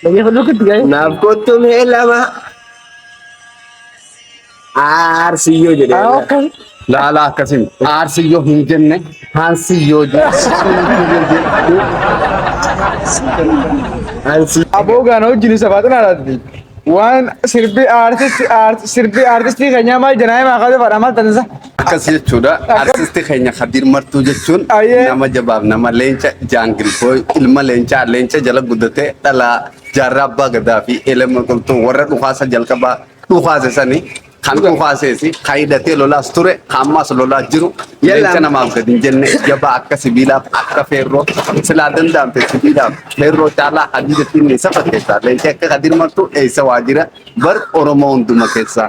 Lagi penuh ke tiga ya? Naaf kottu mee lama aarsiyyoo jedhee Ah, oke. Laalaa akkasii aarsiyyoo hin jenne haansiyyoo jenne. Aboo gaana wajjin isa baatan alaatti. Waan sirbi aartisti aartisti sirbi aartistii keenyaa maal jenaa himaa kaasa fadhaa maal tansa. Akkas jechuudha. Artisti keenya Kadir Martuu jechuun Ayyee. nama jabaaf nama leenca jaangil booy ilma leencaa leenca jala guddate dhalaa jaarraa abbaa gadaa fi elema qulxuu warra dhukaasa jalqabaa dhukaase sani kan dhukaaseesi kan hidhatee lolaas ture kan ammaas lolaa jiru leenca namaaf gadi hin jenne jabaa akka sibiilaaf akka feerroo silaa danda'amte sibiilaaf feerroo caalaa hadiida finni isa fakkeessa leenca akka Kadir Martuu eessa waa jira bar Oromoo hunduma keessaa.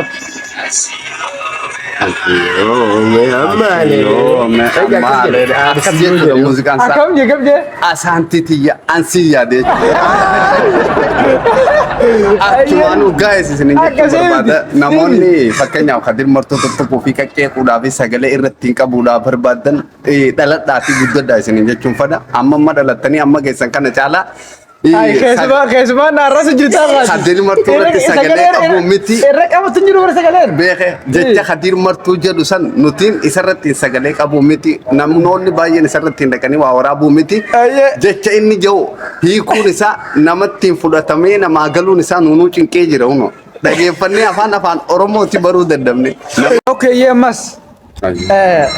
ok Absiyoome ammaale. Absiyoome ammaale. Akkas jechuudha muuziqaan isaa. Akkam jee gabdee? Asaantii tiyya ansii yaadee jechuudha. Achumaan dhugaa isin hin jechuu barbaada. Namoonni fakkeenyaaf kadir martoo tokko fi qaqqee quudhaa fi sagalee irratti hin qabuudhaa barbaadan dhaladhaa fi guddadhaa isin hin jechuun fada. Amma amma dhalattanii amma geessan kana caalaa Keessumaa keessumaa naarras jirtaa baati. Hadir martuu irratti sagalee qabu miti. Irra qabatu hin jiru bara sagaleen. Beeke jecha hadir martuu jedhu san nutiin isarratti hin sagalee qabu miti. Namoonni baay'een isarratti hin dhaqanii waa waraabuu miti. Ayyee. Jecha inni jedhu hiikuun isaa namatti hin fudhatamee namaa galuun isaa nuunuu cinqee jira huno. Dhageeffannee afaan afaan Oromooti baruu dadhabne. Okeeyyee ammas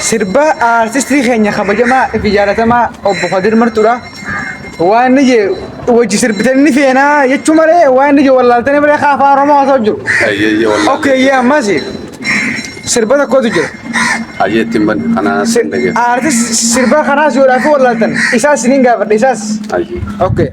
Sirba aartistii keenya kabajamaa fi jaalatamaa obbo Kadir Martuudha. Waan inni jee wajji sirbitan ni feenaa jechuu malee waan inni jee wallaaltanii malee kaa afaan Oromoo haasa'u jiru. Ayyeeyyee wallaahi. Okkee yee ammas sirba tokkotu jira. Ayyee ittiin ban kanaa sin dhageessa. Aartis sirba kanaas yoodhaa fi wallaaltan isaas isiniin gaafadha isaas. Ayyee. Okkee.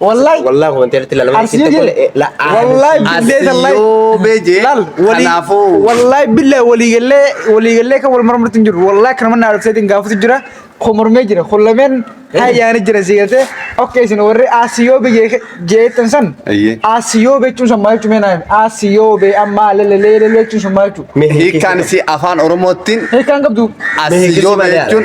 Wallahi. Wallah komenteerratti ilaalama. Arsiin jire. Wallahi billahi tallahi. Yoo beje. Laal walii Kanaafuu. wallahi billahi walii gallee walii gallee kan wal mormatti hin jiru wallahi kan manna arabsee din gaafatu jira kun mormee jira kun lameen hayyaani jira si galtee okke isin warri asiyoo biyye jeetan san Ayyee. asiyoo bechuun san maal jechuun meenaa asiyoo be amma lelelee lelee jechuun sun maal jechuun Hiikkaan isii afaan Oromoottiin hiikkaan qabdu Asiyoo jechuun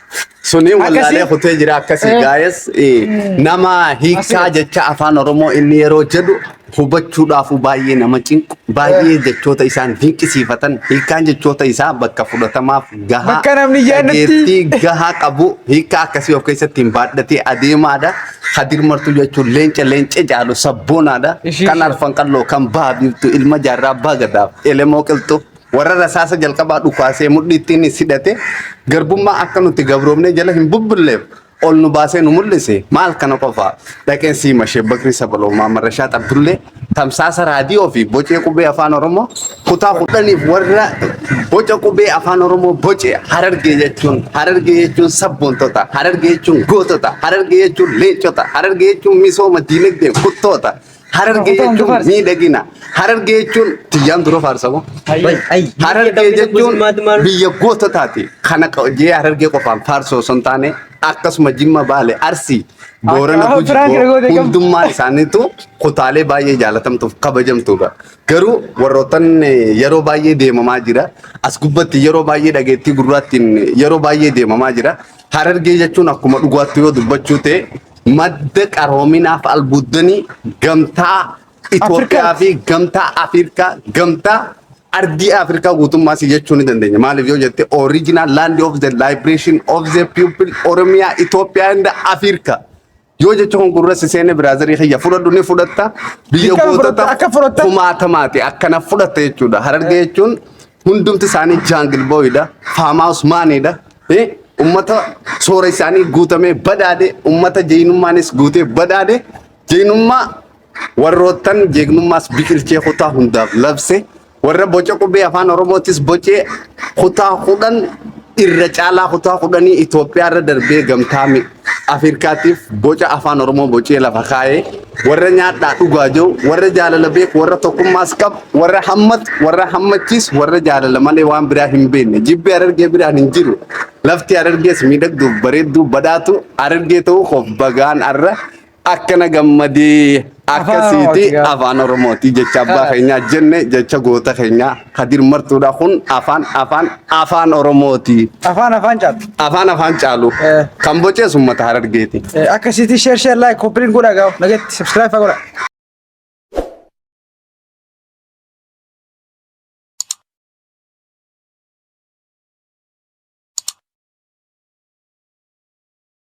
Suni wallaalee Akkasii- kutee jira akkasii Eh. gaa'es eh, nama hiikaa Asi- jecha afaan Oromoo inni yeroo jedhu hubachuudhaafuu baay'ee nama cinqu baay'ee jechoota isaan dinqisiifatan hiikaan jechoota isaa bakka fudhatamaaf gahaa Bakka namni yaadatti- dhageettii gahaa qabu hiikaa akkasii of keessatti hin baadhatee adeemaadha. Hadir martuu jechuun leenca leenca jaalu sabboonaadha. Ishii- Kan arfan qalloo kan baha biiftu ilma jaarraa baagadaaf elemoo qilxuu. Warra rasaasa jalqabaa dhukaasee mudhii ittiin is hidhate garbummaa akka nuti gabroomnee jala hin bubbulleef ol nu baasee nu mul'ise maal kana qofa dhaqeen siima Sheek Bakrii Sabaloo Maamar Rashaad Abdullee tamsaasa raadiyoo fi bocee qubee afaan Oromoo kutaa kudhaniif warra boca qubee afaan Oromoo boce harargee jechuun harargee jechuun sabboontota harargee jechuun gootota harargee jechuun leencota harargee jechuun misooma diinagdeen kuttoota Harargee jechuun miidhagina. Harargee jechuun tiyyaan dura faarsamu. Harargee jechuun biyya goototaati. Kana jee harargee qofaan faarsoo osoo hin taane akkasuma jimma baale arsii boorana gujii hundummaa isaaniitu kutaalee baay'ee jaalatamtuuf kabajamtuudha. Garuu warrootan yeroo baay'ee deemamaa jira. As gubbatti yeroo baay'ee dhageettii gurraattiin yeroo baay'ee deemamaa jira. Harargee jechuun akkuma dhugaatti yoo dubbachuu ta'e Madda qaroominaaf albuuddanii gamtaa Itoophiyaa fi gamtaa Afrikaa gamtaa ardii Afrikaa guutummaa si jechuu ni dandeenya. Maaliif yoo jette original land of the liberation of the people Oromiyaa Itoophiyaa and Afrikaa. Yoo jecha kun gurra si seene biraazarii kiyya fudhadhu ni fudhatta biyya Dirqama fudhatta, gootota akka fudhatta. kumaatamaati akkana fudhatta jechuudha. Harargee jechuun Hundumti isaanii jaangil booyidha. Faamaawus maaniidha. Ummata soora isaanii guutamee badhaadhe. Ummata jeynummaanis guutee badhaadhe. Jeynummaa warroottan jeegnummaas biqilchee kutaa hundaaf labse. Warra boca qubee afaan Oromootis bocee kutaa kudhan irra caalaa kutaa kudhanii Itoophiyaa irra darbee gamtaa Afirkaatiif boca afaan Oromoo bocee lafa kaa'ee warra nyaadhaa dhugaa jiru, warra jaalala beeku, warra tokkummaas qabu, warra hammatu, warra hammachiis, warra jaalala malee waan biraa hin beekne. Jibbi Harargee biraan hin jiru. Lafti Harargees miidhagduuf bareedduu badhaatu Harargee ta'uu koof bagaan arra akkana gammadee akkasiiti afaan oromooti jecha abbaa keenyaa jenne jecha goota keenyaa kadir martuudha kun afaan afaan afaan oromooti Afaan afaan caalu. afaan afaan caalu Eh. kan bocees ummata harargeeti Akkasiiti share share like koppiliin godhaa gaa'u. Nageetti subscribe fa'aa godhaa.